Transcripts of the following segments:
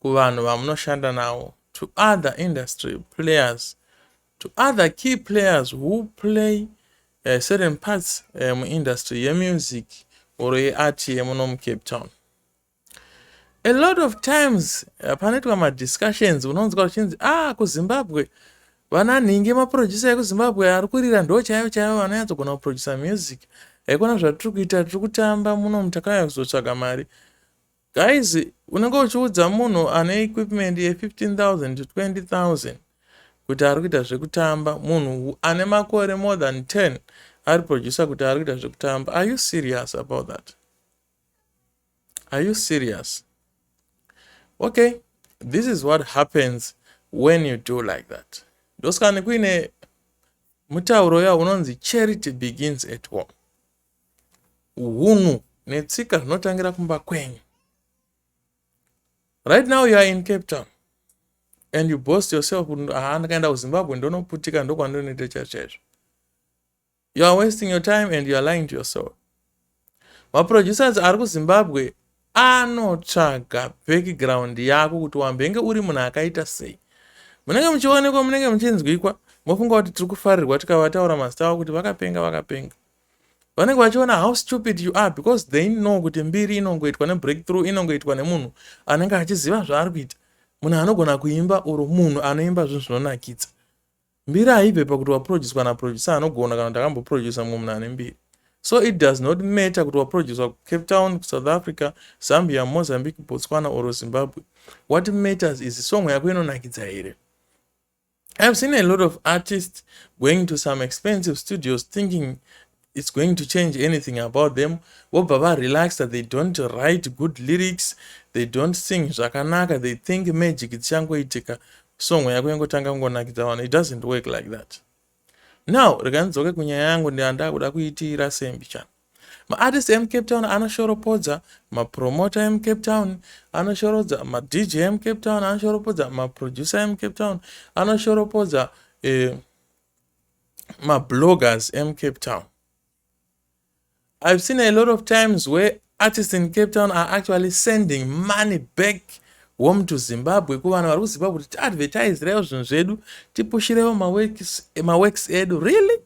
kuvanhu vamunoshanda navo to other industry players to other key players who play uh, certain parts uh, muindustry yemusic or yeart yemuno mucape town a lot of times uh, panoitwa madiscussions unonzwa uchinzi ah kuzimbabwe vana nhingi maproducer ekuzimbabwe ari kurira ndo chaivo chaivo vanonyatsogona kuproducer music haikona zvatiri kuita tiri kutamba muno mutakauya kuzotsvaga mari Guys, unenge uchiudza munhu ane equipment ye 15000 to 20000 kuti ari kuita zvekutamba, munhu ane makore more than 10 ari producer kuti ari kuita zvekutamba. Are you serious about that? Are you serious? Okay, this is what happens when you do like that. Ndoskani kuine mutauro ya unonzi charity begins at home. hunhu netsika zvinotangira kumba kwenyu right now you are in cape town and you boast yourself haa ndakaenda kuzimbabwe ndonoputika ndokwandinoita chaizvo chaizvo you are wasting your time and you are lying to yourself maproducers ari kuzimbabwe anotsvaga background yako kuti wambenge uri munhu akaita sei munenge muchionekwa munenge muchinzwikwa mofunga kuti tiri kufarirwa tikavataura mazita avo kuti vakapenga vakapenga vanenge vachiona how stupid you are because they know kuti mbiri inongoitwa nebreakthrough inongoitwa nemunhu anenge achiziva zvaari kuita munhu anogona kuimba or munhu anoimba zvinhu zvinonakidza mbiri haibve pakuti waproducwa naproducer anogona kana kuti akamboproducer mumwe munhu ane mbiri so it does not matter kuti waproducwa kucape town kusouth africa zambia mozambique botswana or zimbabwe what matters is song yako inonakidza here I've seen a lot of artists going to some expensive studios thinking it's going to change anything about them vobva varelax that they don't write good lyrics they don't sing zvakanaka they think magic dzichangoitika song yako yangotanga kungonakidza vanhu it doesn't work like that now rega ndidzoke kunyaya yangu ndandakuda kuitiira sembi chana Maartist emucape town anoshoropodza mapromota emucape town anoshorodza madj emucape town anoshoropodza maproducer emucape town anoshoropodza eh, mabloggers emucape town i've seen a lot of times where artists in cape town are actually sending money back home to zimbabwe kuvanhu vari kuzimbabwe kuti tiadvertiserewo zvinhu zvedu tipushirewo maworks edu really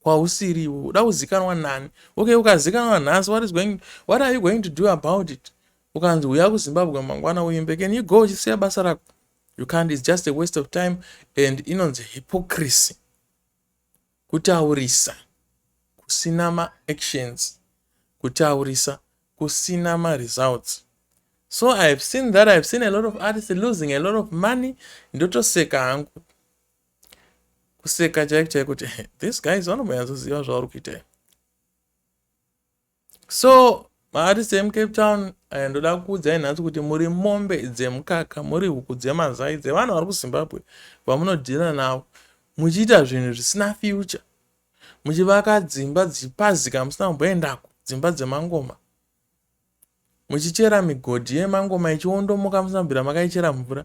kwausiri iwe uda kuzikanwa nani okay ukazikanwa nhasi what is going what are you going to do about it ukanzi uya kuzimbabwe mangwana uimbe can you go uchisiya basa rako you can't is just a waste of time and inonzi hypocrisy kutaurisa kusina maactions kutaurisa kusina maresults so i have seen that i have seen a lot of artists losing a lot of money ndotoseka hangu kuseka chaiko chaiko kuti this guys vanombonyatsoziva zvauri kuita so maartist emucape town eh, ndoda kuudzai nhasi kuti muri mombe dzemukaka muri huku dzemazai dzevanhu vari kuzimbabwe vamunodhira navo muchiita zvinhu zvisina future muchivaka dzimba dzichipazika musina kumboendako dzimba dzemangoma muchichera migodhi yemangoma ichiondomoka musina kubvira makaichera mvura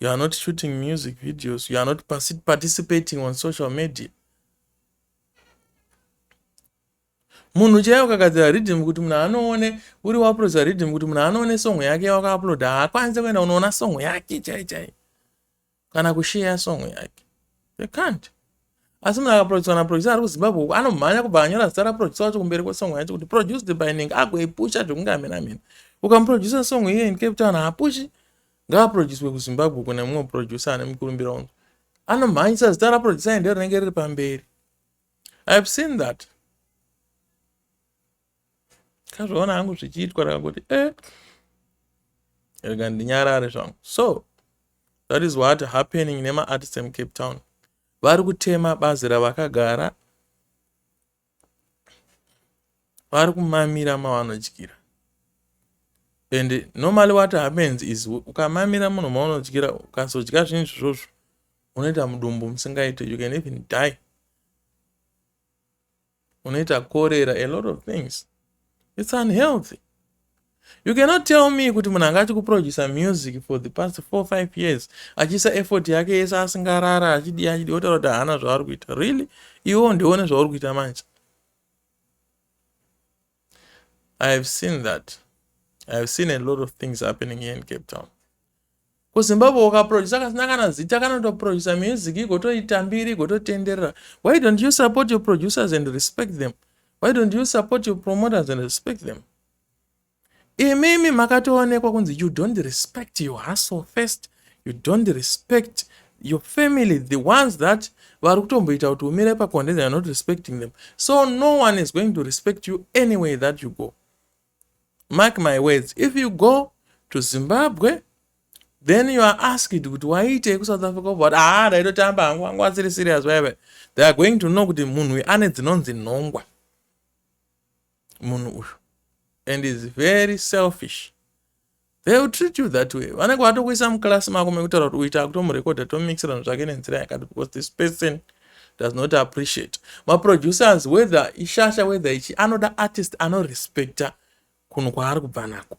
you are not shooting music videos you are not participating on social media munhu chaiye ukagadzira riddim kuti munhu anoone uri wauploda riddim kuti munhu anoone songo yake wakauploda haakwanise kuenda unoona songo yake chai chai kana kusheya songo yake they can't asi munhu akaproducer kana producer ari kuzimbabwe uku anomhanya kubva anyora zita raproducer wacho kumberi kwesongo yacho kuti produced by ning agoipusha zvekunge amena mena ukamuproducer songo iye in cape town haapushi ngaaprodyuswe kuzimbabwe uko nemumwe muprodyusa ane mukurumbira unzwa anomhanyisa zita raprodyusa ende rinenge riri pamberi ihave seen that kazvaona hangu zvichiitwa rakangoti e eh. rega ndinyarare zvangu so that is what happening nemaartist emucape town vari kutema bazi ravakagara vari kumamira mavanodyira and normally what happens is ukamamira munhu maunodyira ukazodya zvinhu izvozvo unoita mudumbu musingaite you can even die unoita korera a lot of things it's unhealthy You cannot tell me kuti munhu anga achikuproducer music for the past 45 years achiisa effort yake yese asingarara achidii achidii otaura kuti haana zvaari kuita really iwo ndione zvauri kuita manje i have seen that i have seen a lot of things happening here in cape town kuzimbabwe ukaproducer kasina kana zita kanotoproducer music igotoitambiri igototenderera why don't you support your producers and respect them why don't you support your promoters and respect them imimi makatoonekwa kunzi you don't respect your hustle first you don't respect your family the ones that vari kutomboita kuti umire pakonde they are not respecting them so no one is going to respect you anyway that you go mark my words if you go to zimbabwe then you are asked kuti waiitei kusouth africa obva haa ah, ndaitotamba hangu vangu vasiri serious vaive they are going to know kuti munhu ane dzinonzi nhongwa munhu uyu and is very selfish they will treat you that way vanenge vatokuisa muclass mako mekutaura kuti uita kutomurekodha tomixira zvinhu zvake nenzira yakati because this person does not appreciate maproducers whether ishasha whether ichi anoda artist anorespecta kunhu kwaari kubva nako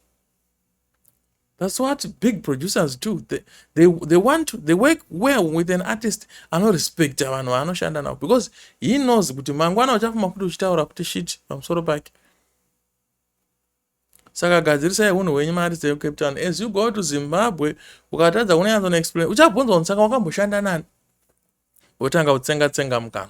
That's what big producers do. They, they, they want to, they work well with an artist anorespecta vanhu vaanoshanda navo because he knows kuti mangwana uchafuma kuti uchitaura kuti shit pamusoro pake. Saka gadzirisai hunhu hwenyu maartist eCape Town. As you go to Zimbabwe, ukatadza kunyanzona explain, uchabvunzwa kuti saka wakamboshanda nani? Wotanga kutsenga tsenga mukanwa.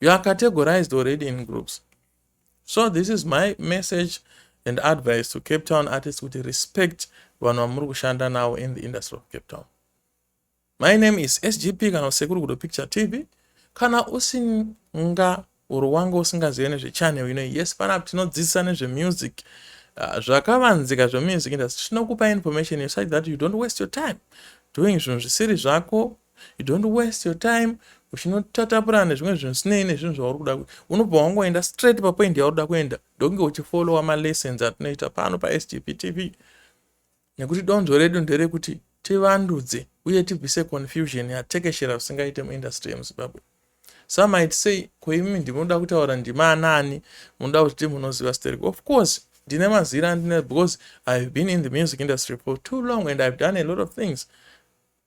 you are categorized already in groups so this is my message and advice to cape town artist kuti respect vanhu vamuri kushanda navo in the industry of cape town my name is sgp kana usekuri kudo picture tv kana usinga uri wanga usingazive nezvechannel ino yes panapo tinodzidzisa nezvemusic ah, zvakavanzika zvemusic industry tinokupa information such that you don't waste your time doing zvinhu zvisiri zvako You don't waste your time uchinotatapurirana nezvimwe zvinhu zvisinei nezvinhu zvauri kuda unobva wangoenda straight papoint yauri kuda kuenda ndokunge uchifollowa malessons atinoita pano pasgp tv nekuti donzvo redu nderekuti tivandudze uye tibvise confusion yatekeshera zvisingaite muindustry yemuzimbabwe some might say ko imi ndimoda kutaura ndima anani munoda kuti timunoziva sterek of course ndine mazira andine because ihave been in the music industry for too long and ihave done a lot of things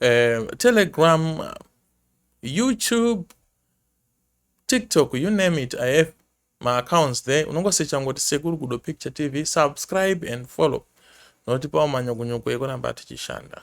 uh, telegram youtube tiktok you name it i have my accounts there unongosecha ngoti sekuru gudo picture tv subscribe and follow notipawo manyokonyoko ekuramba tichishanda